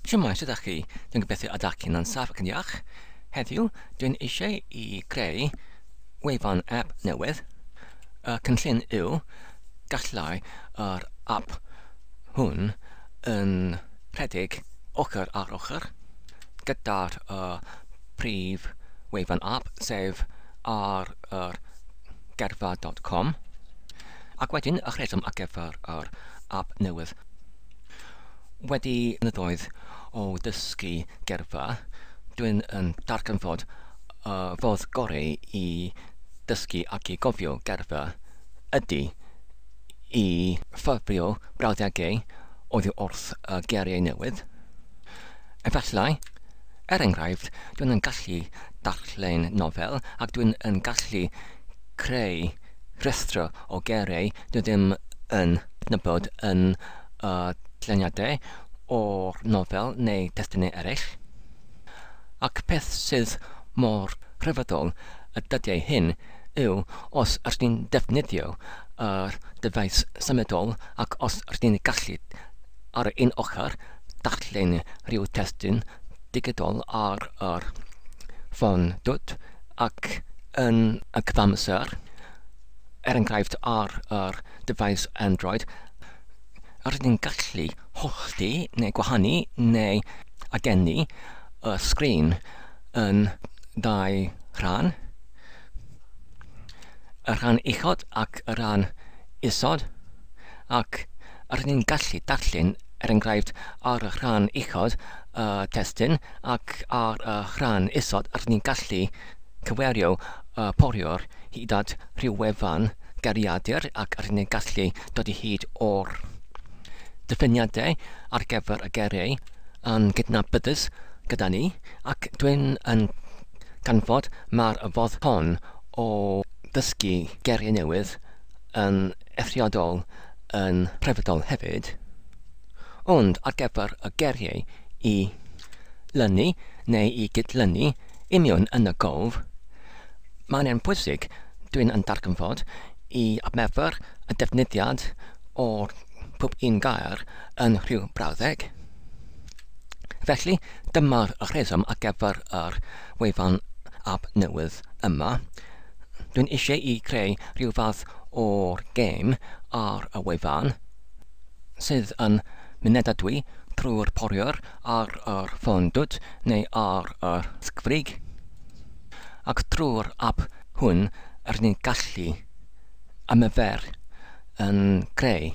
Shwmae, sut ydych chi? Dwi'n gobeithio y dach chi'n ansaf ac yn iach. Heddiw, dwi'n eisiau i greu wefan app newydd. Y cynllun yw gallai yr app hwn yn rhedeg ochr ar ochr gyda'r uh, prif wefan app, sef ar yr gerfa.com. Ac wedyn, y rheswm ar gyfer yr app newydd Wedi blynyddoedd o ddysgu gerddfa, dwi'n yn darganfod y ffordd gorau i ddysgu ac i gofio gerddfa ydy i ffurfio brawddegau oddi wrth y geiriau newydd. Efallai, er enghraifft, dwi'n yn gallu darllen nofel ac dwi'n yn gallu creu Rhestr o geiriau dwi ddim yn cydnabod yn y dyluniadau o'r nofel neu destunau eraill. Ac peth sydd mor rhyfeddol y dyddiau hyn yw os ydych chi'n defnyddio yr dyfais symudol ac os ydych chi'n gallu, ar yr un ochr, darllen rhyw destun digidol ar yr ffôn dwt, ac yn y cyfamser, er enghraifft ar yr dyfais Android, rydyn ni'n gallu hollti neu gwahanu neu agennu y sgrin yn ddau rhan, y rhan uchod ac y rhan isod, ac Rydyn ni'n gallu darllen, er enghraifft, ar y rhan uchod y testun ac ar y rhan isod rydyn ni'n gallu cyfeirio y poriwr hyd at ryw wefan geiriadur ac rydyn ni'n gallu dod i hyd o'r diffiniadau ar gyfer y geiriau yn gydnabyddus gyda ni ac dwi'n yn canfod mai'r fodd hon o ddysgu geiriau newydd yn eithriadol yn rhyfeddol hefyd, ond ar gyfer y geiriau i lynu neu i gydlynu i mewn yn y gof, mae'n e'n bwysig, dwi'n yn darganfod, i adnabod y defnyddiad o pob un gair yn rhyw brawddeg. Felly, dyma'r rheswm ar gyfer yr wefan ab newydd yma. Dwi'n eisiau i creu rhyw fath o'r gêm ar y wefan, sydd yn mynedadwy trwy'r poriwr ar yr ffôn dwt neu ar yr sgfrig, ac drwy'r ap hwn rydyn ni'n gallu ymarfer yn creu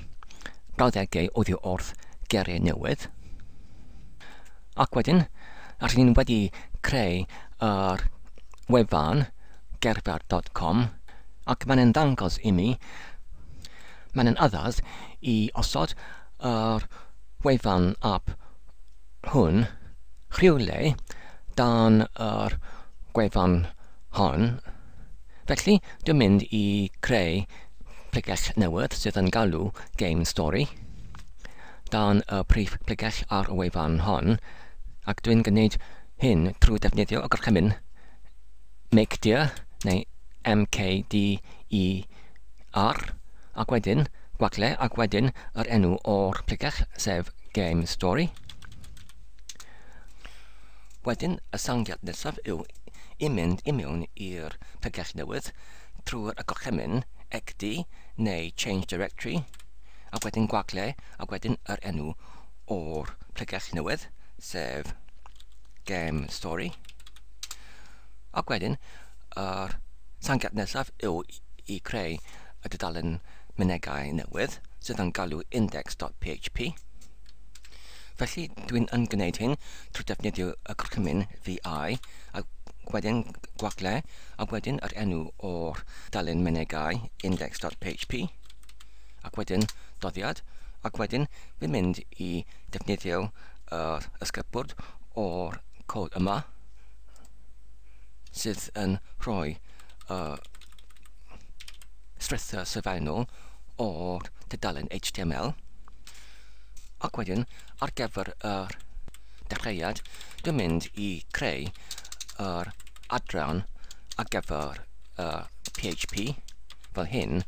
brawddegau oddi wrth geiriau newydd, ac wedyn rydyn ni wedi creu yr wefan, Gerpar dot com ac mae'n ddangos imi mae'n addas i osod yr wefan ap hwn rhywle dan yr gwefan hon felly dwi'n mynd i creu pregeth newydd sydd yn galw game story dan y prif bregeth ar y wefan hon ac dwi'n gwneud hyn trwy ddefnyddio y gorchymyn mcdr neu mkdr, ac wedyn gwagle ac wedyn yr enw o'r pregell, sef Game Story. Wedyn y sangiad nesaf yw i mynd i mewn i'r pregell newydd trwy'r y gorchymyn xd neu Change Directory ac wedyn gwagle ac wedyn yr enw o'r pregell newydd, sef Game Story. Ac wedyn, yr tangiad nesaf yw i creu y dudalen mynegau newydd sydd yn galw index.php. Felly, dwi'n yn gwneud hyn trwy defnyddio y gorchymyn VI, ac wedyn gwagle, a wedyn yr enw o'r dalen mynegau index.php, ac wedyn doddiad, ac wedyn fi'n mynd i defnyddio yr ysgybwrd o'r cod yma sydd yn rhoi uh, strwythur sylfaenol o'r tudalen HTML ac wedyn ar gyfer yr dechreuad dwi'n mynd i creu yr adran ar gyfer uh, PHP fel hyn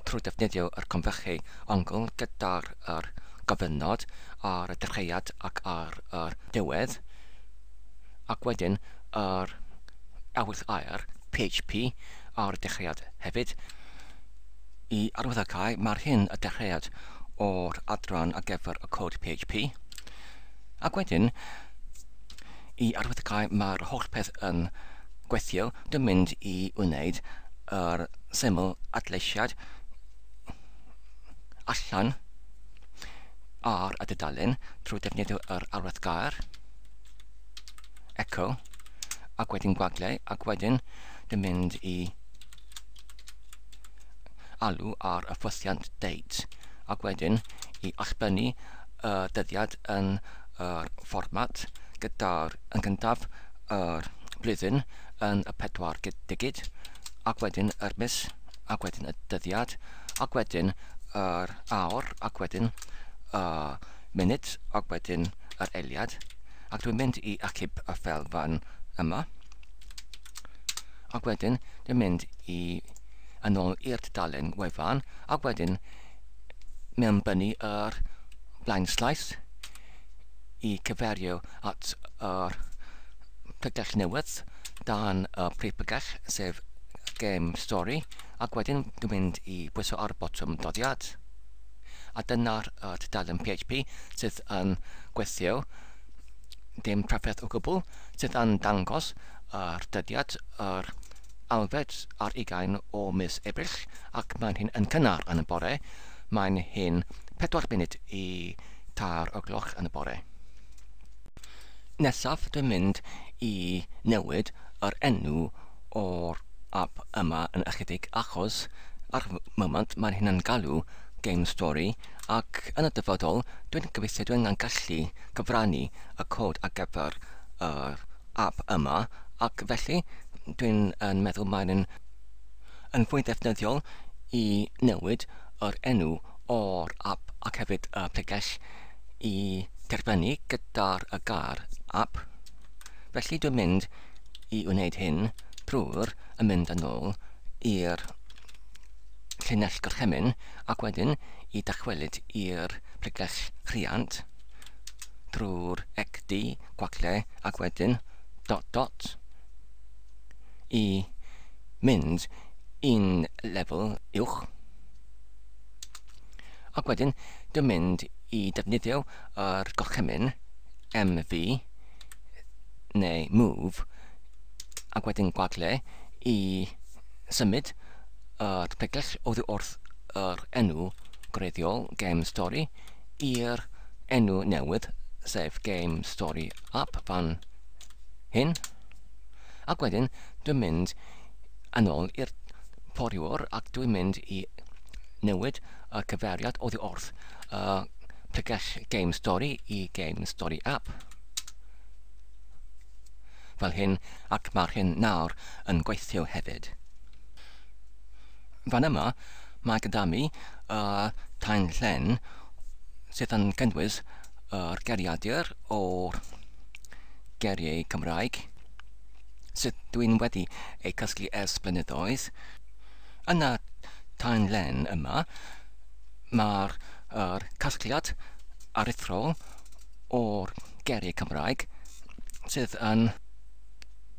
trwy ddefnyddio yr conferchie ongl gyda'r yr gofynnod ar y dechreuad ac ar yr diwedd ac wedyn yr awydd aer php ar y dechreuad hefyd. I arwyddocau, mae'r hyn y dechreuad o'r adran ar gyfer y cod php. Ac wedyn, i arwyddocau mae'r holl peth yn gweithio, dwi'n mynd i wneud yr syml adleisiad allan ar y dudalen trwy defnyddio yr arwydd gair, echo, ac wedyn gwagle, ac wedyn dwi'n mynd i alw ar y ffwythiant date, ac wedyn i allbynnu y dyddiad yn yr fformat gyda'r yn gyntaf yr blwyddyn yn y pedwar digid ac wedyn yr mis ac wedyn y dyddiad ac wedyn yr awr ac wedyn y munud ac wedyn yr eiliad ac dwi'n mynd i achub y fel fan yma ac wedyn dwi'n mynd i yn ôl i'r dudalen wefan ac wedyn mewn byny yr blaenslais i gyferio at yr pregell newydd dan y prif bregell sef Game Story ac wedyn dwi'n mynd i bwyso ar y botwm doddiad a dyna'r uh, tudalen PHP sydd yn gweithio dim trafferth o gwbl sydd yn dangos yr dyddiad yr Alfed ar ugain o mis Ebrill ac mae'n hyn yn cynnar yn y bore, mae'n hyn pedwar munud i tair o gloch yn y bore. Nesaf dwi'n mynd i newid yr enw o'r app yma yn ychydig achos ar y moment mae'n hyn yn galw Game Story ac yn y dyfodol dwi'n gobeithio dwi'n yn gallu cyfrannu y cod ar gyfer yr ap yma ac felly dwi'n yn meddwl mae'n yn, yn fwy ddefnyddiol i newid yr enw o'r ap ac hefyd y pregell i derfynu gyda'r y gair ap. Felly dwi'n mynd i wneud hyn drwy'r y mynd yn ôl i'r llinell gorchymyn ac wedyn i dychwelyd i'r pregell rhiant. drwy'r ecdy gwagle ac wedyn dot dot i mynd i'n lefel uwch ac wedyn dwi'n mynd i defnyddio yr gorchymyn MV neu move ac wedyn gwagle i symud yr pregell oddi wrth yr enw gwreiddiol Game Story i'r enw newydd, sef Game Story App fan hyn. Ac wedyn dwi'n mynd yn ôl i'r poriwr ac dwi'n mynd i newid y cyfeiriad oddi wrth y pregell Game Story i Game Story App. Fel hyn, ac mae'r hyn nawr yn gweithio hefyd. Fan yma, mae gyda mi y tanllen sydd yn cynnwys yr geriadur o'r geriau Cymraeg sydd dwi'n wedi eu cysgu ers blynyddoedd. Yn y tanllen yma, mae'r er casgliad aruthrol o'r geriau Cymraeg sydd yn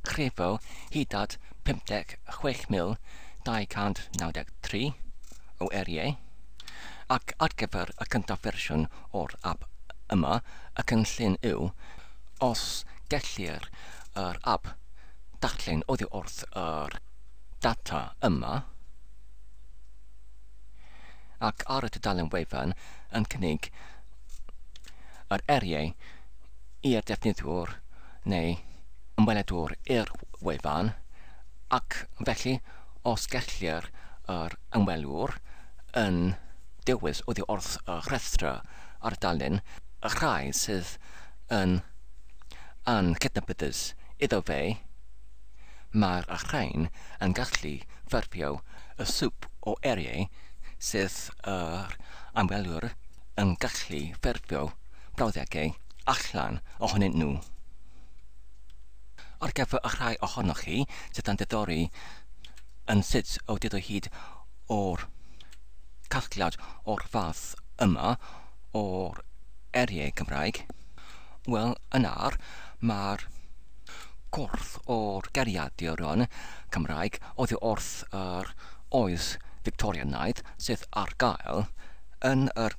crefydd hyd at 56,293 o eiriau, ac ar gyfer y cyntaf fersiwn o'r ap yma, y cynllun yw, os gellir yr ap darllen oddi wrth yr data yma, ac ar y tudalen wefan yn cynnig yr eiriau i'r defnyddiwr neu ymweledwr i'r wefan, ac felly os gellir yr ymwelwr yn dewis oddi wrth y rhestr ar dudalen y rhai sydd yn anghydnabyddus iddo fe, mae'r rhain yn gallu ffurfio y swp o eiriau sydd yr ymwelwr yn gallu ffurfio. brawddegau allan ohonyn nhw. Ar gyfer y rhai ohonoch chi sydd yn diddori yn sut y wyd o hyd o'r casgliad o'r fath yma o'r eiriau Cymraeg, wel yna'r mae'r corff o'r geiriaduron Cymraeg oddi wrth yr oes Fictorianaidd sydd ar gael yn yr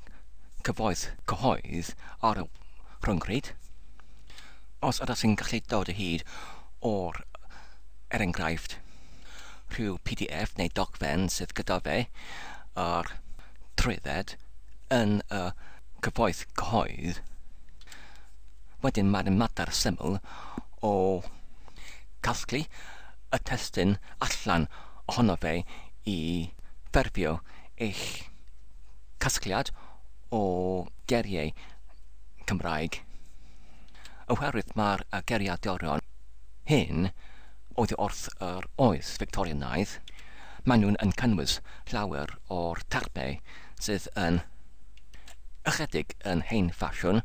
cyfoeth cyhoedd ar y rhyngrwyd, os ydych chi'n gallu dod o hyd o'r, er enghraifft, rhyw pdf neu dogfen sydd gyda fe a'r trwydded yn y cyfoeth cyhoedd, wedyn mae'n mater syml o gasglu y testun allan ohono fe i ffurfio eich casgliad o geriau Cymraeg, oherwydd mae'r geriadurion hyn oddi wrth yr oes Fictorianaidd, maen nhw'n yn cynnwys llawer o'r termau sydd yn ychydig yn hen ffasiwn,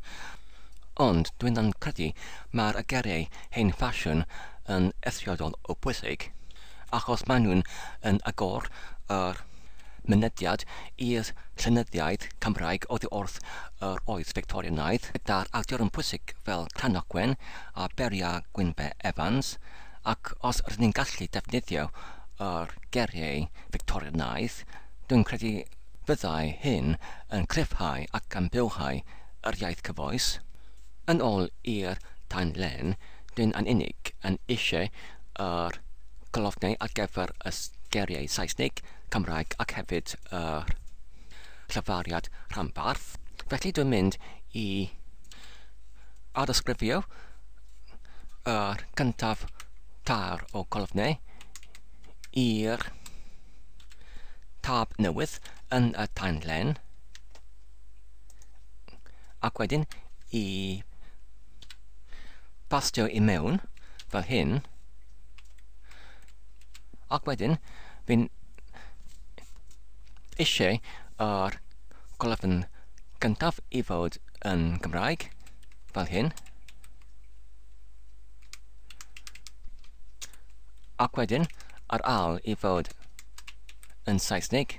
ond dwi'n yn credu mae'r geriau hen ffasiwn yn eithriadol o bwysig. achos maen nhw'n yn agor yr mynediad i'r llenyddiaeth Cymraeg oddi wrth yr oes Fictorianaidd, gyda'r actorion pwysig fel Cranogwen a Beria Gwynfe Evans, ac os rydyn ni'n gallu defnyddio yr geriau Fictorianaidd, dwi'n credu fyddai hyn yn cryfhau ac yn bywhau yr iaith cyfoes. Yn ol i'r tan len, dwi'n yn unig yn eisiau yr golofnau ar gyfer y geiriau Saesneg, Cymraeg ac hefyd yr llyfariad rhanbarth. Felly dwi'n mynd i addysgrifio yr gyntaf tair o golofnau i'r tab newydd yn y tanlen Ac wedyn i bastio i mewn fel hyn. Ac wedyn fi'n eisiau yr golofn gyntaf i fod yn Gymraeg fel hyn. Ac wedyn yr al i fod yn Saesneg.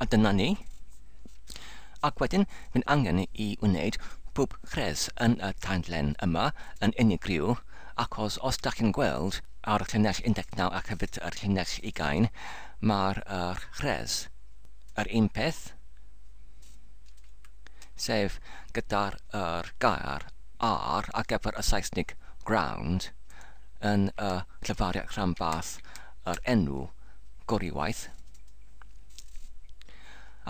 A dyna ni. Ac wedyn, mae'n angen i wneud pob rhes yn y tandlen yma yn unigryw, achos os da chi'n gweld ar llinell 19 ac hefyd ar llinell 20, mae'r uh, rhes yr un peth, sef gyda'r er, gair ar ar gyfer y Saesnig ground yn y uh, llefariad rhanbarth yr enw Goruwaith,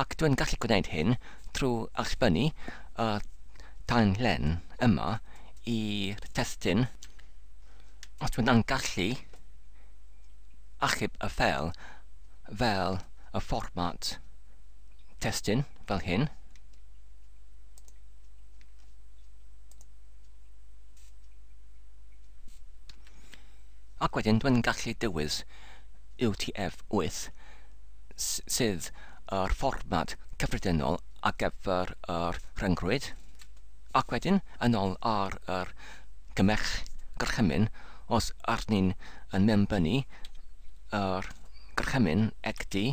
ac dwi'n gallu gwneud hyn trwy allbynnu y tanlen yma i'r testun os dwi'n yn gallu achub y ffeil fel y fformat testun fel hyn. Ac wedyn dwi'n gallu dewis UTF-8, sydd yr fformat cyffredinol ar gyfer yr rhyngrwyd, ac wedyn yn ôl ar yr gymell gorchymyn os arnyn yn mewnbynnu yr gorchymyn egdi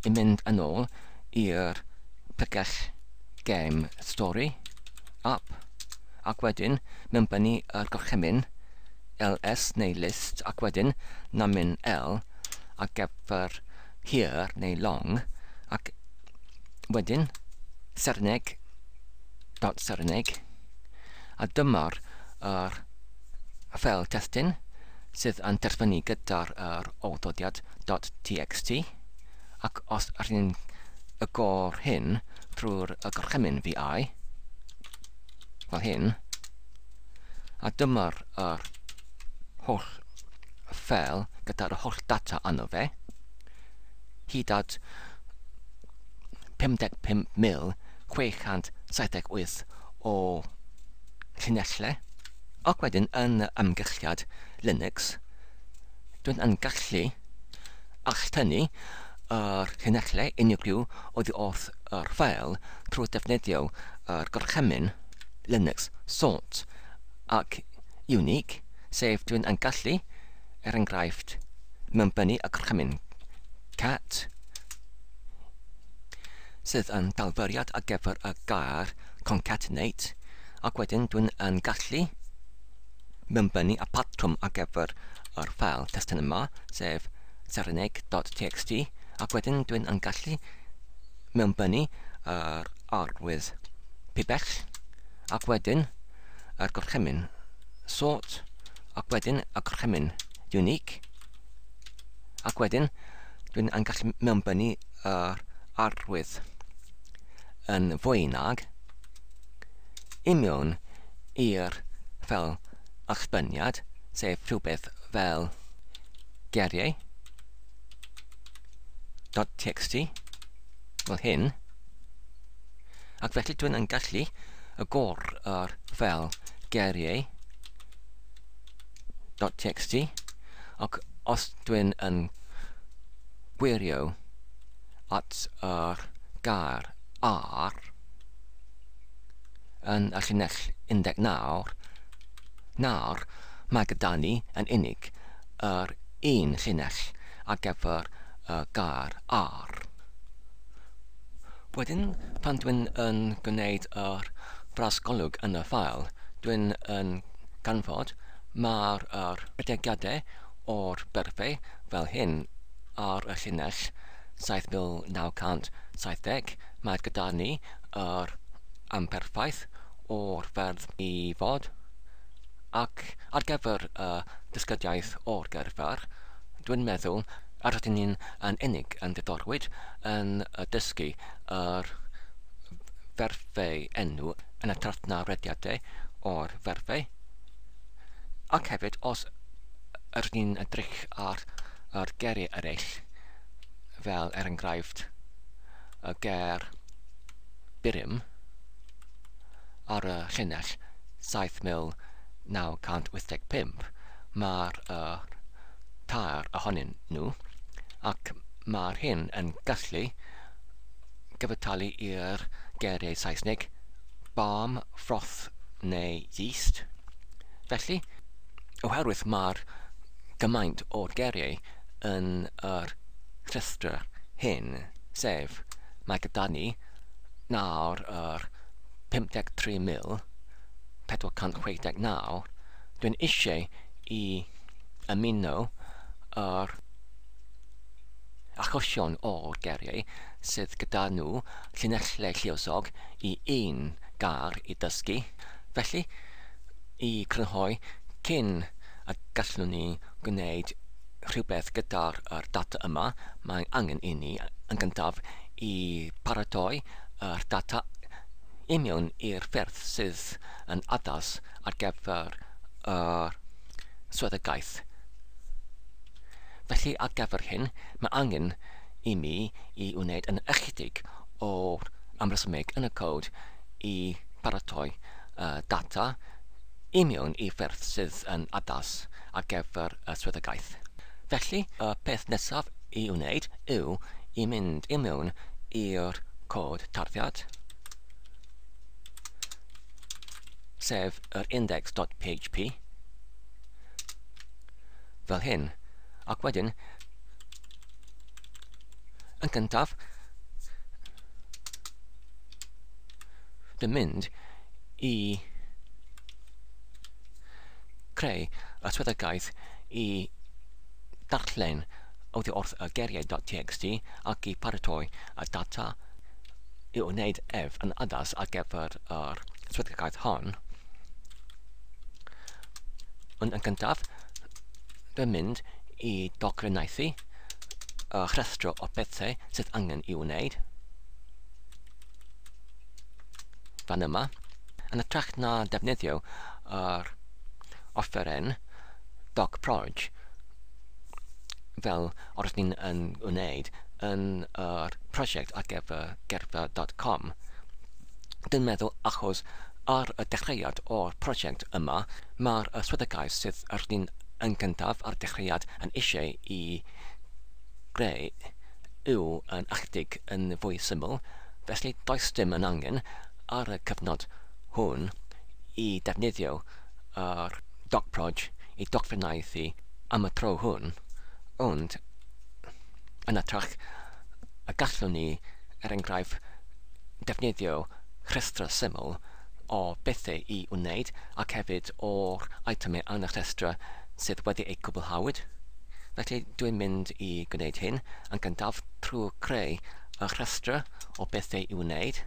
i mynd yn ôl i'r pregell gem stori, app. ac wedyn mewn bynnu yr gorchymyn, ls neu list ac wedyn namyn l a gefr hir neu long ac wedyn Serineg dot Serineg a dyma'r yr ffel testun sydd yn terfynu gyda'r yr olddodiad dot txt ac os rhyn y gor hyn trwy'r y gorchymyn vi fel hyn, a dyma'r yr holl ffel gyda'r holl data arno fe, hyd at 55,678 o llinellau, ac wedyn yn y amgylchiad Linux, dwi'n yn gallu alltynnu Yr hyn alle unigryw oddi wrth yr ffeil trwy ddefnyddio yr gorchymyn Linux sort ac unique, sef dw i'n gallu, er enghraifft, mewnbynnu y gorchymyn cat sydd yn dalfyriad ar gyfer y gair concatenate, ac wedyn dwi'n yn gallu mewnbynnu y patrwm ar gyfer yr ffeil testun yma, sef Saranaeg.txt ac wedyn dwi'n yn gallu mewnbynnu yr arwydd pibell ac wedyn yr gorchymyn sort ac wedyn y gorchymyn unique ac wedyn dwi'n yn gallu mewnbynnu yr arwydd yn fwy nag i mewn i'r fel allbyniad, sef rhywbeth fel geriau .txt fel hyn ac felly dwi'n yn gallu y gor yr fel geriau .txt ac os dwi'n yn gwirio at yr gair ar yn y llinell 19, nawr mae gyda ni yn unig yr un llinell ar gyfer y gair ar. Wedyn, pan dwi'n yn gwneud yr fras golwg yn y ffael, dwi'n yn canfod mai'r yr ategiadau o'r berfau fel hyn ar y llinell 7970, mae gyda ni yr amperffaith o'r ferf i fod, ac ar gyfer y dysgyddiaeth o'r gerfer, dwi'n meddwl yr ydyn ni yn unig yn ddiddorwyd yn dysgu yr ferfau enw yn hytrach na rediadau o'r ferfau, ac hefyd os ydyn ni'n edrych ar yr geiriau eraill, fel er enghraifft y ger Birim ar y llinell 7985, mae'r uh, tair ohonyn nhw, ac mae'r hyn yn gallu gyfytalu i'r geiriau Saesneg balm, froth neu yeast. Felly, oherwydd mae'r gymaint o'r geiriau yn yr rhestr hyn, sef, mae gyda ni nawr yr 53,469, dwi'n eisiau i ymuno yr achosion o'r geiriau sydd gyda nhw llinellau lluosog i un gair i ddysgu, felly, i grynhoi cyn a gallwn ni gwneud rhywbeth gyda'r er data yma, mae angen i ni yn gyntaf i paratoi yr data i mewn i'r ffyrdd sydd yn addas ar gyfer yr swyddogaeth. Felly ar gyfer hyn, mae angen i mi i wneud yn ychydig o'r amresymeg yn y cod i baratoi y data i mewn i ffyrdd sydd yn addas ar gyfer y swyddogaeth. Felly, y peth nesaf i'w wneud yw i mynd i mewn i'r cod tarddiad, sef yr index.php, fel hyn, ac wedyn, yn gyntaf, Dwi'n mynd i creu y swyddogaeth i darllen oddi wrth y geiriau.txt ac i paratoi y data i wneud ef yn addas ar gyfer yr swyddogaeth hon. Ond yn gyntaf, dwi'n mynd i dogfennaethu y rhestr o bethau sydd angen i wneud. fan yma, yn ytrach na defnyddio yr offeren Doc Proj fel oeddwn ni'n yn wneud yn yr prosiect ar gyfer gerdded.com. Dwi'n meddwl achos ar y dechreuad o'r prosiect yma, mae'r y swyddogaeth sydd ar ni'n yn gyntaf ar y dechreuad yn eisiau i greu yw yn Arctig yn fwy syml, felly does dim yn angen ar y cyfnod hwn i ddefnyddio yr DocProj i dogfennaethu am y tro hwn, ond yn ytrach y gallwn ni, er enghraifft, ddefnyddio rhestrau syml o bethau i wneud ac hefyd o'r eitemau yn y rhestrau sydd wedi eu cwblhawyd. Felly dwi'n mynd i gwneud hyn yn gyntaf trwy greu y rhestrau o bethau i wneud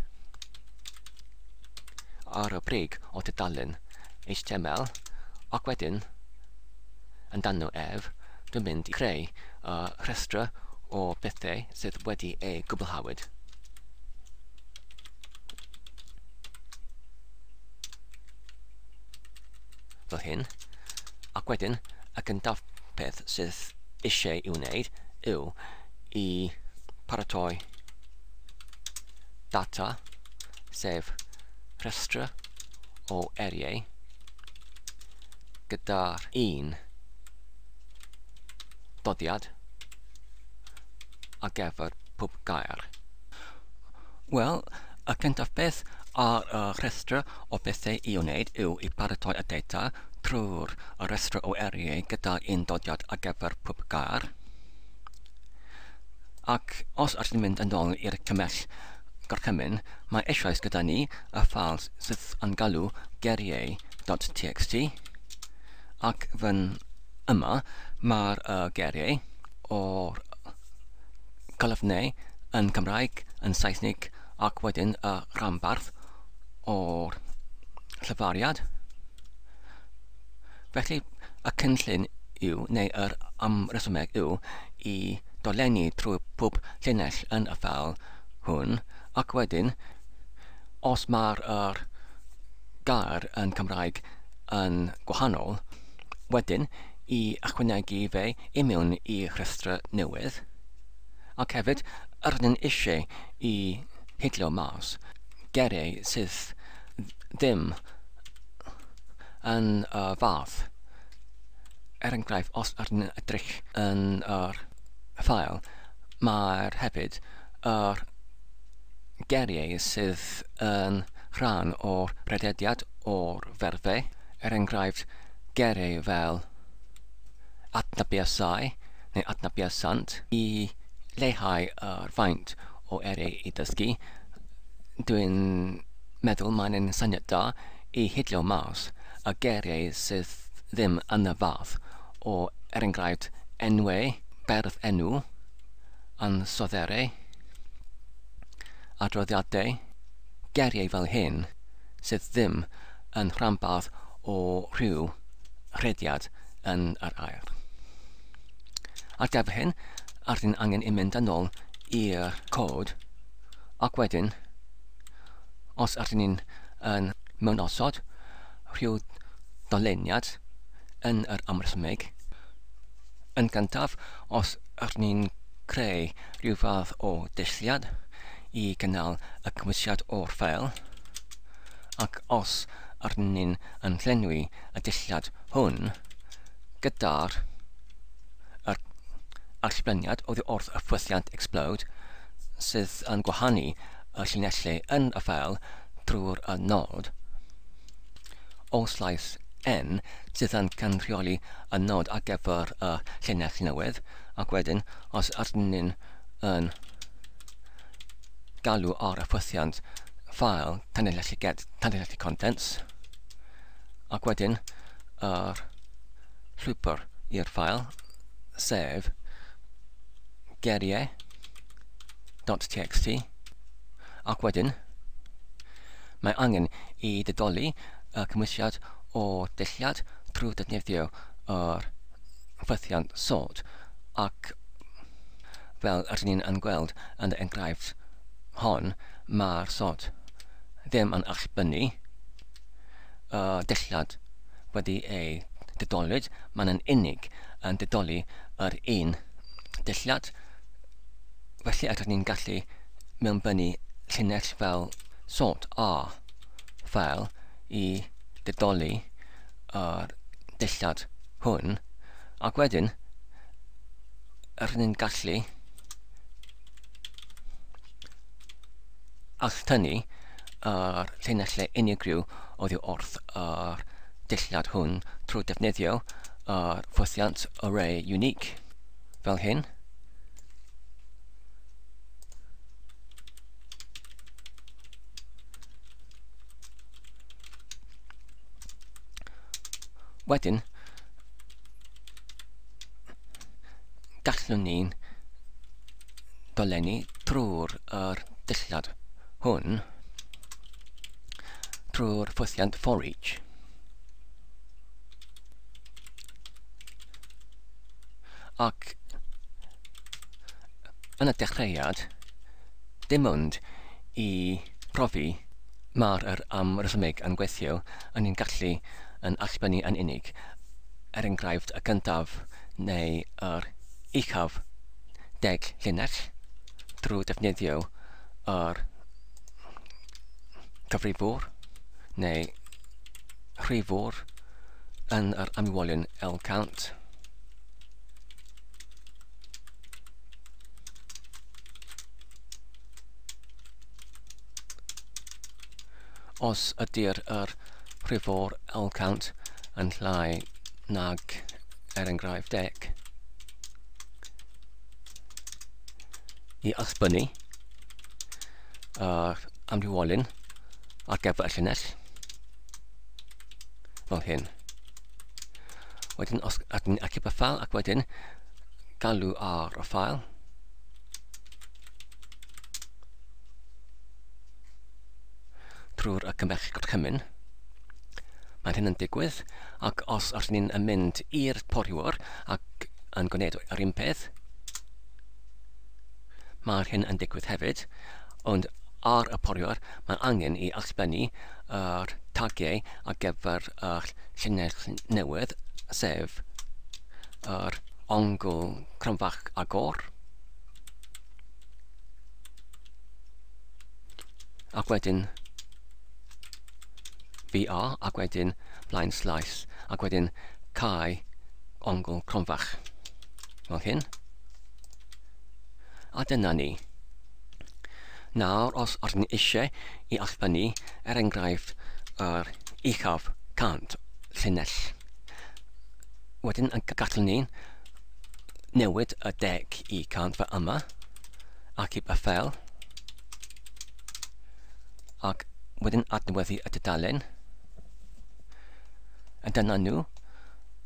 ar y brig o dudalen HTML ac wedyn yn dan nhw ef, dwi'n mynd i greu y rhestrau o bethau sydd wedi eu cwblhawyd. fel hyn, ac wedyn y gyntaf peth sydd eisiau i'w wneud yw i paratoi data, sef rhestr o eriau gyda'r un dodiad a gefyr pob gair. Wel, y cyntaf beth ar y rhestr o bethau i'w wneud yw i baratoi y data trwy'r rhestr o eiriau gyda'r undodiad ar gyfer pob gair. Ac os ydych chi'n mynd yn ôl i'r cymell gorchymyn, mae eisoes gyda ni y ffal sydd yn galw geiriau.txt ac fan yma mae'r uh, geiriau o'r colofnau yn Cymraeg, yn Saesneg ac wedyn y rhanbarth o'r llyfariad. Felly y cynllun yw, neu yr amresymeg yw, i dolenni trwy pob llinell yn y ffeil hwn, ac wedyn, os mae'r er gair yn Cymraeg yn gwahanol, wedyn i ychwanegu fe i mewn i rhestrau newydd. Ac hefyd, yr ydyn eisiau i hidlo mas geiriau sydd ddim yn y fath. Er enghraifft, os ydyn ni'n edrych yn yr ffael, mae'r hefyd yr geiriau sydd yn rhan o'r rhedediad o'r ferfau er enghraifft, gere fel adnabuasau neu adnabuasant, i leihau yr faint o ere i dysgu, dwi'n meddwl mae'n un syniad da i hidlo mas y gere sydd ddim yn y fath o er enghraifft enwau, berf enw, ansoddeiriau, adroddiadau, geriau fel hyn. sydd ddim yn rhanbarth o rhyw rhediad yn yr aer. Ar gyfer hyn, ardyn angen i mynd yn ôl i'r cod ac wedyn, os ardyn ni'n yn mewn osod rhyw doleniad yn yr amrysmig, yn gyntaf, os ardyn ni'n creu rhyw fath o ddulliad i gynnal y cymwysiad o'r ffeil, ac os arnyn yn llenwi y dulliad hwn gyda'r yr allbleniad oddi wrth y ffwythiant explode sydd yn gwahanu y llinellau yn y ffeil trwy'r y nod o slais N sydd yn cynrychioli y nod ar gyfer y llinell newydd, ac wedyn os ydyn ni'n yn galw ar y ffwythiant ffael tanlinellu get tanlinellu contents ac wedyn yr llwybr i'r ffael sef geriau.txt ac wedyn mae angen i ddedoli y cymwysiad o dulliad trwy ddefnyddio yr ffwythiant sod, ac fel rydyn ni yn gweld yn yr enghraifft hon, mae'r sod ddim yn allbynnu y dulliad wedi ei didolwyd, mae'n yn unig yn didoli yr un dulliad, felly rydyn ni'n gallu mewnbynnu llinell fel sod A fel i didoli a'r dillad hwn, ac wedyn rydyn ni'n gallu alltynnu a'r llinellau unigryw oddi wrth a'r dillad hwn trwy defnyddio a'r ffwythiant array unique fel hyn. Wedyn, gallwn ni'n dolenni trwy'r er dillad hwn, trwy'r ffwythiant for each. Ac yn y dechreuad, dim ond i profi Mae'r er am resymeg yn gweithio yn ein gallu yn allbynnu yn unig, er enghraifft, y gyntaf neu yr uchaf deg llinell, drwy ddefnyddio yr cyfrifwr neu rhifwr yn yr amwylyn lcount. Os ydy'r yr rhif o'r L-count yn llai nag er enghraifft deg, i ysbynnu yr amrywolyn ar gyfer y llinell fel hyn. Wedyn os ac yn y ffael ac wedyn galw ar y ffael trwy'r y cymell gorchymyn. Mae hyn yn digwydd ac os ydyn ni'n yn mynd i'r poriwr ac yn gwneud yr un peth, mae hyn yn digwydd hefyd, ond ar y poriwr mae angen i allbennu yr tagiau ar gyfer yr llinell newydd, sef yr ongl cronfach agor. Ac wedyn BR ac wedyn blaen slaes ac wedyn cae ongl cronfach fel hyn. A dyna ni. Nawr, os ydyn ni eisiau i allfynnu, er enghraifft, yr uchaf cant llinell, wedyn yn gallwn ni newid y deg i cant fe yma, ac i Bethel, ac wedyn adnewyddu y dudalen, a dyna nhw,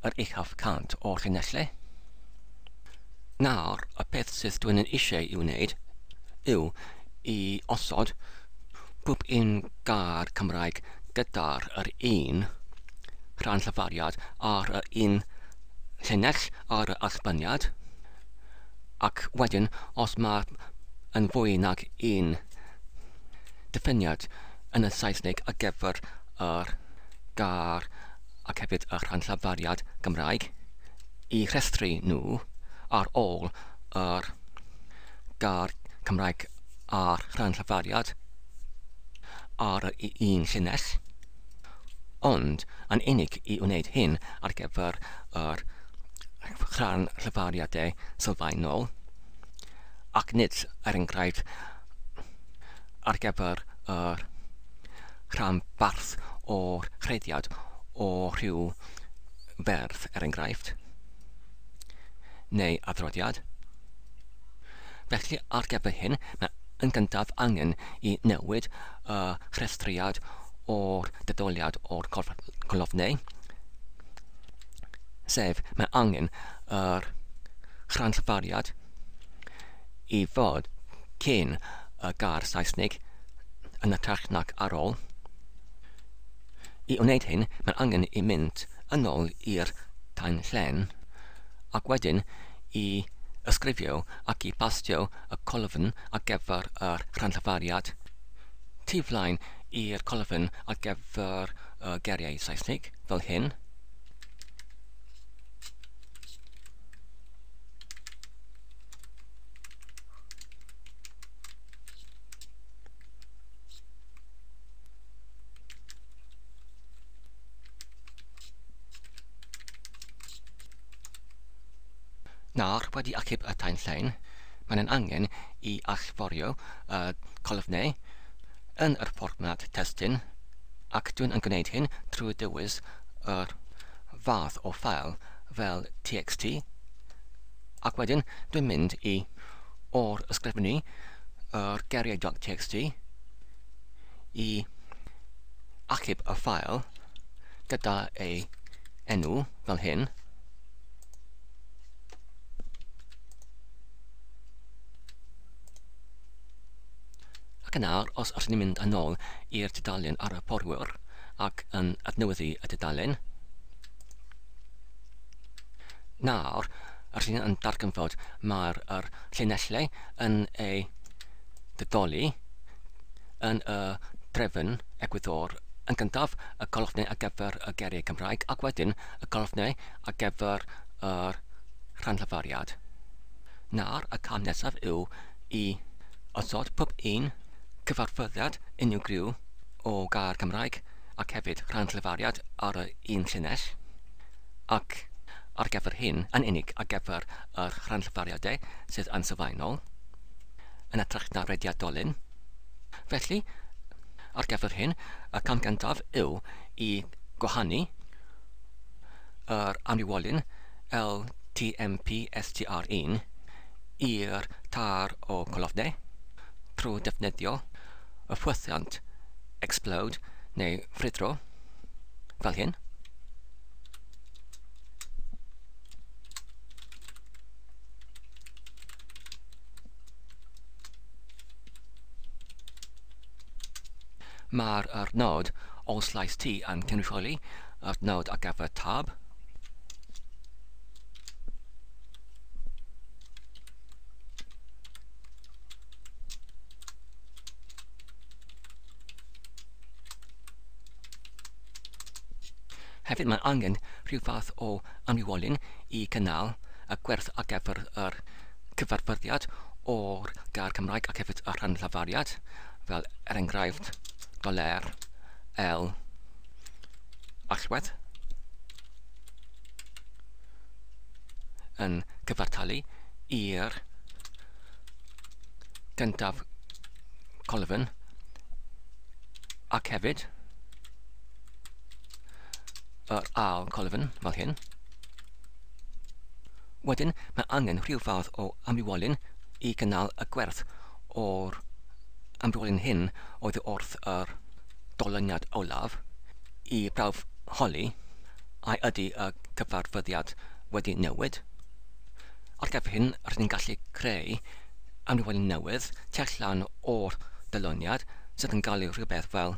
yr uchaf cant o'r llinellau. Nawr, y peth sydd dwi'n yn eisiau i'w wneud yw i osod pob un gair Cymraeg gyda'r yr un rhan llyfariad ar yr un llinell yr allbaniad, ac wedyn os mae yn fwy nag un diffiniad yn y Saesneg ar gyfer yr gair ac hefyd y rhan llafariad Gymraeg, eu rhestru nhw ar ôl yr gair Cymraeg a'r rhan llafariad ar yr un llinell. ond yn unig i wneud hyn ar gyfer yr rhan llyfariadau sylfaenol, ac nid, er enghraifft, ar gyfer yr rhanbarth o'r rhediad o rhyw ferf, er enghraifft, neu adroddiad. Felly, ar gyfer hyn, mae yn gyntaf angen i newid y rhestriad o'r detholiad o'r colofnau, sef mae angen yr rhanllfariad i fod cyn y gair Saesnig yn y tach nac ar ôl. I wneud hyn, mae angen i mynd yn ôl i'r tanllen, ac wedyn i ysgrifio ac i bastio y colofn ar gyfer yr rhanllafariad tu flaen i'r colofn ar gyfer y geiriau Saesnig, fel hyn. Nawr wedi achub y tain llain, mae'n ein angen i allforio y colofnau yn yr fformat testun ac dwi'n yn gwneud hyn trwy dewis yr fath o ffael fel txt ac wedyn dwi'n mynd i or-ysgrifennu yr geriau.txt i achub y ffael gyda ei enw fel hyn. Ac yna, os rydyn ni'n mynd yn ôl i'r tudalen ar y porwyr ac yn adnewyddu y tudalen, nawr, rydyn ni'n darganfod mae'r llinellau yn ei didoli yn y drefn egwyddor, yn gyntaf y colofnau ar gyfer y geiriau Cymraeg ac wedyn y colofnau ar gyfer yr rhanllafariad. Nawr y cam nesaf yw i osod pob un cyfarfyddiad unigryw o gair Cymraeg ac hefyd rhanllafariad ar y un llinell, ac ar gyfer hyn yn unig ar gyfer yr rhanllafariadau sydd yn sylfaenol. yn hytrach na rediadolyn. Felly, ar gyfer hyn, y cam gyntaf yw i gwahanu yr amrywolyn LTMPSTR1 i'r tar o colofnau trwy ddefnyddio y ffwythiant explode neu ffrwydro fel hyn. Mae'r adnodd Os llais ti yn cynrychioli adnodd ar gyfer tab, Hefyd mae angen rhyw fath o anniwolyn i gynnal y gwerth ar gyfer yr cyfarfyddiad o'r gair Cymraeg ac hefyd y rhan lafariad, fel er enghraifft, doler, el, allwedd, yn cyfartalu i'r gyntaf colofn ac hefyd yr ail colofn fel hyn. Wedyn, mae angen rhyw fath o amrywolyn i gynnal y gwerth o'r amrywolyn hyn oedd wrth yr dolyniad olaf i brawf holi a ydy y cyfarfyddiad wedi newid. Ar gyfer hyn, rydyn ni'n gallu creu amrywolyn newydd tu allan o'r dyluniad sydd yn gael ei rhywbeth fel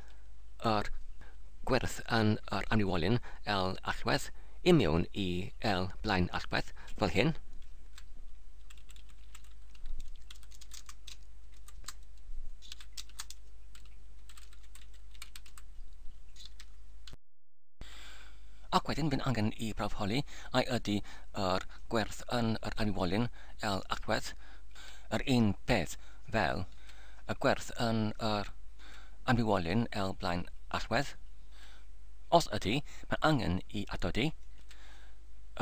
yr gwerth yn yr anniwolyn L allwedd i mewn i L blaen allwedd, fel hyn. Ac wedyn bydd angen i brawf holi ai ydy yr gwerth yn yr anifwolyn L agwedd yr un peth fel y gwerth yn yr anifwolyn L blaen allwedd. Os ydy, mae angen i atodi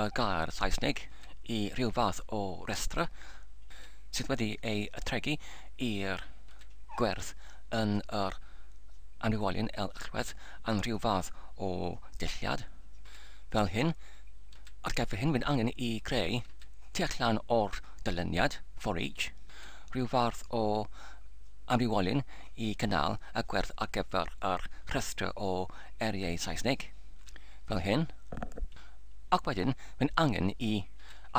y gair Saesneg i rhyw fath o restr sydd wedi ei atregu i'r gwerth yn yr anifwolyn L allwedd am rhyw fath o dulliad fel hyn, ar gyfer hyn mae'n angen i greu, tu allan o'r dyluniad for each, rhyw fath o amrywiolyn i gynnal y gwerth ar gyfer yr rhestr o eiriau Saesneg, fel hyn, ac wedyn mae'n angen i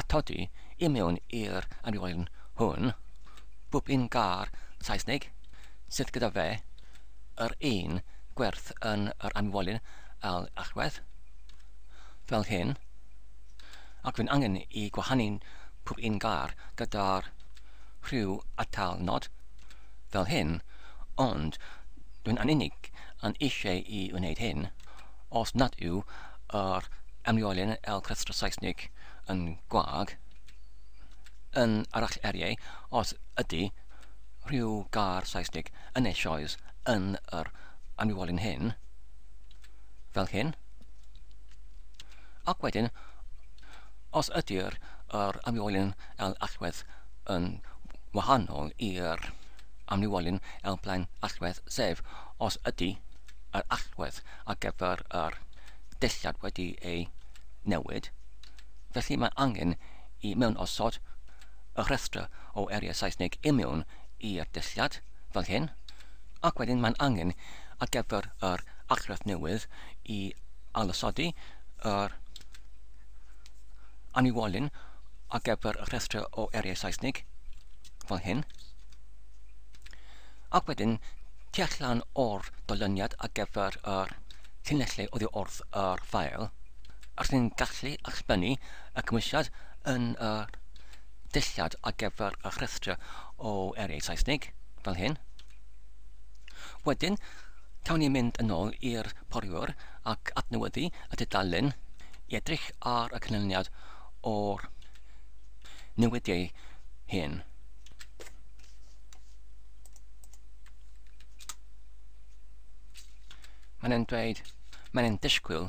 atodi i mewn i'r amrywiolyn hwn bob un gair Saesneg sydd gyda fe yr un gwerth yn yr anifwolyn a'r allwedd, fel hyn, ac rwy'n angen i gwahanu pob un gair gyda'r rhyw atal nod, fel hyn, ond rwy'n yn unig yn eisiau i wneud hyn os nad yw yr anifwolyn a'r rhestr Saesnig yn gwag, yn arall eiriau, os ydy, siop rhyw gar Saesnig yn eisoes yn yr aniwolyn hyn, fel hyn. Ac wedyn, os ydy'r yr aniwolyn el allwedd yn wahanol i'r aniwolyn el blaen allwedd, sef os ydy yr allwedd ar gyfer yr dillad wedi ei newid, felly mae angen i mewn osod y rhestr o eiriau Saesneg i mewn i'r dulliad, fel hyn, ac wedyn mae'n angen ar gyfer yr argraff newydd i ailosodi yr anniwolyn ar gyfer y rhestr o eiriau Saesneg, fel hyn, ac wedyn tu allan o'r dolyniad ar gyfer yr llinellau oddi wrth yr ffael, rydyn ni'n gallu allbynnu y Cymwysiad yn y dulliad ar gyfer y rhestr o eiriau Saesnig, fel hyn. Wedyn, cawn ni mynd yn ôl i'r poriwr ac adnewyddu y dudalen i edrych ar y canlyniad o'r newidiau hyn. Mae'n e'n dweud, mae'n e'n disgwyl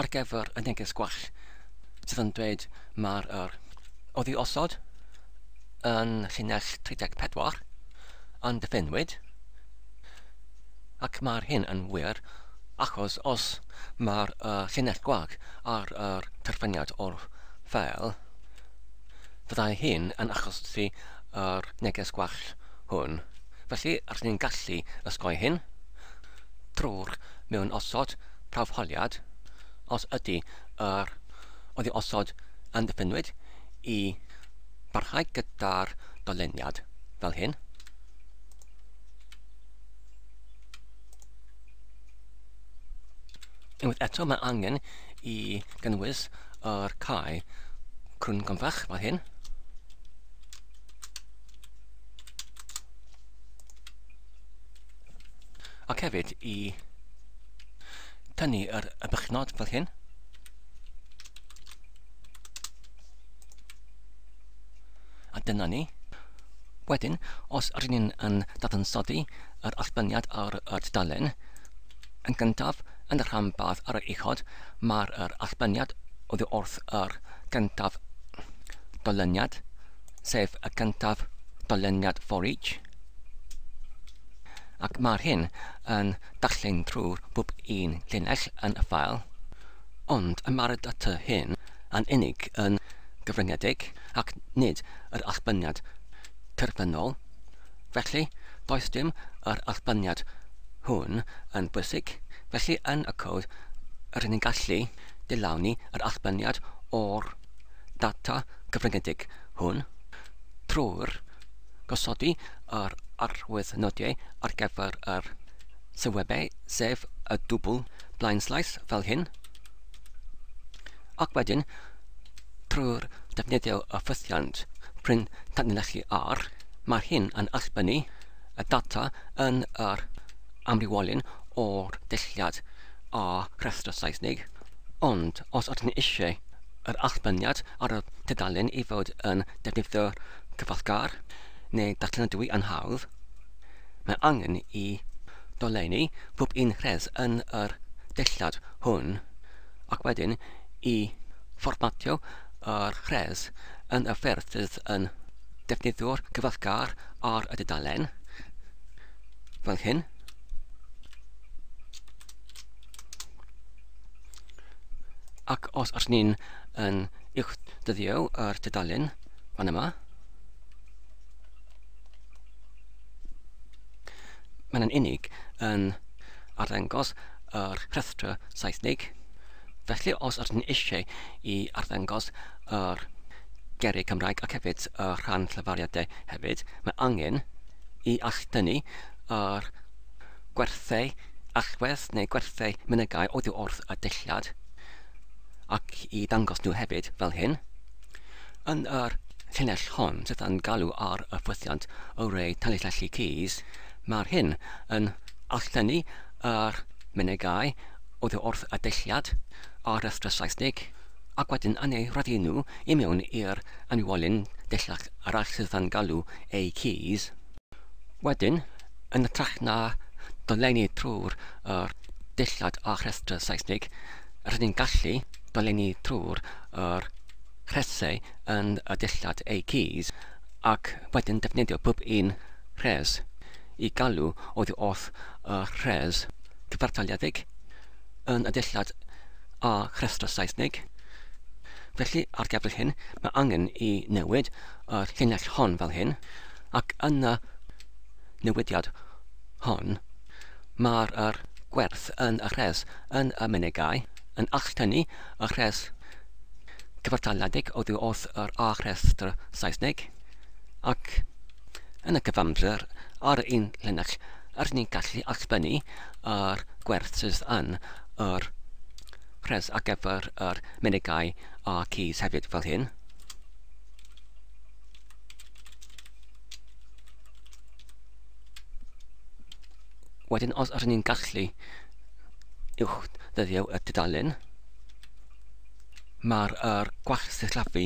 ar gyfer y neges gwell sydd yn dweud mae'r er oddi osod yn llinell 34 yn diffennwyd ac mae'r hyn yn wir achos os mae'r uh, llinell gwag ar yr terfyniad o'r ffeil fyddai hyn yn achosi yr neges gwell hwn. Felly, rydyn ni'n gallu osgoi hyn drwy'r mewn osod prawfholiad, os ydy yr oddi osod yn ddiffynwyd i barhau gyda'r dolyniad fel hyn. Unwaith eto mae angen i gynnwys yr cae crwn gymfach fel hyn. Ac hefyd i tynnu yr y bychnod fel hyn. A dyna ni. Wedyn, os rydyn ni'n yn dadansoddi yr allbyniad ar y tudalen, yn gyntaf, yn y rhanbarth ar yr uchod, mae'r allbyniad oddi wrth yr gyntaf dolyniad, sef y gyntaf dolyniad for each, ac mae'r hyn yn darllen trwy'r bob un llinell yn y ffael, ond y mae'r data hyn yn unig yn gyfyngedig ac nid yr allbyniad terfynol, felly does dim yr allbyniad hwn yn bwysig, felly yn y cod rydyn ni'n gallu dylawni yr allbyniad o'r data gyfyngedig hwn trwy'r gosodi yr arwyddnodiau ar gyfer yr sylwebau, sef y dwbl blaenslaes fel hyn, ac wedyn trwy'r defnyddio y ffythiant pryn tanlinellu R, mae hyn yn allbynnu y data yn yr amrywiolyn o'r dulliad a rhestr Saesnig, ond os ydyn ni eisiau yr allbyrniad ar y tudalen i fod yn defnyddio cyfallgar neu datganadwy yn hawdd, mae angen i dolenni pob un rhes yn yr dillad hwn ac wedyn i fformatio yr rhes yn y ffyrdd sydd yn defnyddio'r cyfallgar ar y dudalen, fel hyn. Ac os ydych chi'n yn uwch dyddio yr tudalen fan yma, mae'n yn unig yn arddangos yr rhestr Saesnig. Felly os ydych chi'n eisiau i arddangos yr geiriau Cymraeg ac hefyd y rhan llefariadau hefyd, mae angen i allu dynnu yr Gwerthau allwedd neu gwerthau mynegai oddi wrth y dulliad, ac i ddangos nhw hefyd fel hyn. Yn yr llinell hon sydd yn galw ar y ffwythiant Array Tanlinellu Keys, mae'r hyn yn alllennu yr mynegai oddi wrth y dulliad a'r rhestr Saesnig, ac wedyn yn eu rhoddi nhw i mewn i'r anwolyn dulliach arall sydd yn galw eu keys. Wedyn, yn hytrach na dolenni trwy'r er dillad a rhestr Seisnig, rydyn ni'n gallu dolenni trwy'r er rhesau yn y dillad eu keys ac wedyn defnyddio pob un rhes i galw oddi wrth y rhes cyfartaledig yn y dillad a rhestr Seisnig. Felly, ar gyfer hyn, mae angen i newid y llinell hon fel hyn. Ac yn y newidiad hon, mae'r yr gwerth yn y rhes yn y mynegai yn alltynnu y rhes cyfartaledig oddi wrth yr a rhestr Saesneg, ac yn y cyfamser ar y un llinell rydyn ni'n gallu alltynnu yr gwerth sydd yn yr rhes ar gyfer yr mynegai a'r keys hefyd fel hyn. Wedyn os ydyn ni'n gallu uwch ddyddio y dudalen, mae'r er gwall sillafu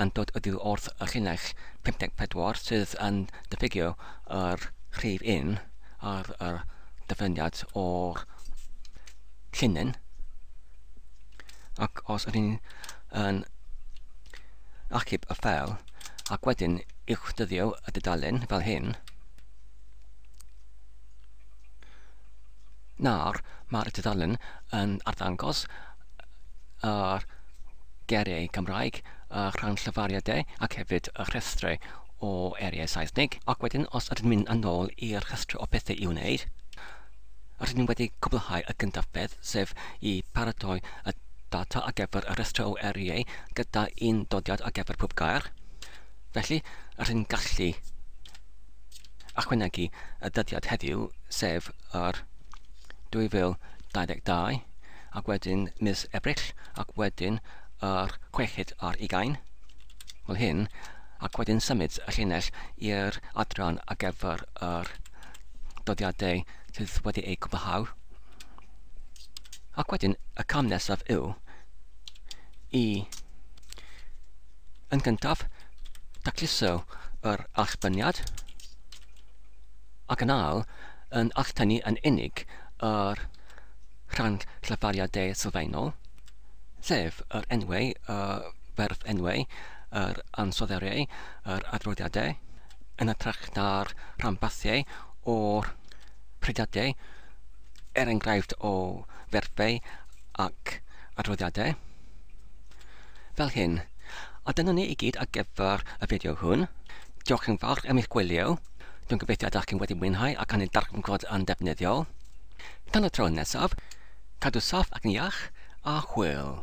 yn dod ydyw wrth y llinell 54 sydd yn diffygio yr rhif un ar y dyfyniad o'r llinyn. ac os ydyn ni yn achub y ffeil ac wedyn uwch dyddio y dudalen fel hyn, nawr mae'r dudalen yn arddangos yr geiriau Cymraeg, y rhan llyfariadau ac hefyd y rhestrau o eiriau Saesneg. Ac wedyn, os ydyn mynd yn ôl i'r rhestrau o bethau i'w wneud, Rydyn ni wedi cwblhau y gyntaf beth, sef i paratoi y data ar gyfer y rhestr o eriau gyda un dodiad ar gyfer pob gair. Felly, rydyn ni'n gallu ychwanegu y dyddiad heddiw, sef yr 2022, ac wedyn mis Ebrill, ac wedyn yr 6 ar ugain, fel hyn, ac wedyn symud y llinell i'r adran ar gyfer yr dyddiadau sydd wedi eu cwblhau. Ac wedyn y cam nesaf yw i yn gyntaf dacluso yr allbyniad ac yn ail yn alltynnu yn unig yr rhan llyfariadau sylfaenol, sef yr enwau, y ferf enwau, yr ansoddeiriau, yr adroddiadau, yn hytrach na'r rhanbarthiau o'r prydiadau, er enghraifft o ferfau ac adroddiadau, fel hyn. A dyna ni i gyd ar gyfer y fideo hwn. Diolch yn fawr am eich gwylio. Dwi'n gobeithio ydych chi'n wedi mwynhau ac yn ei darganfod yn ddefnyddiol. Tan y tro nesaf, cadw saff ac yn iach, a hwyl!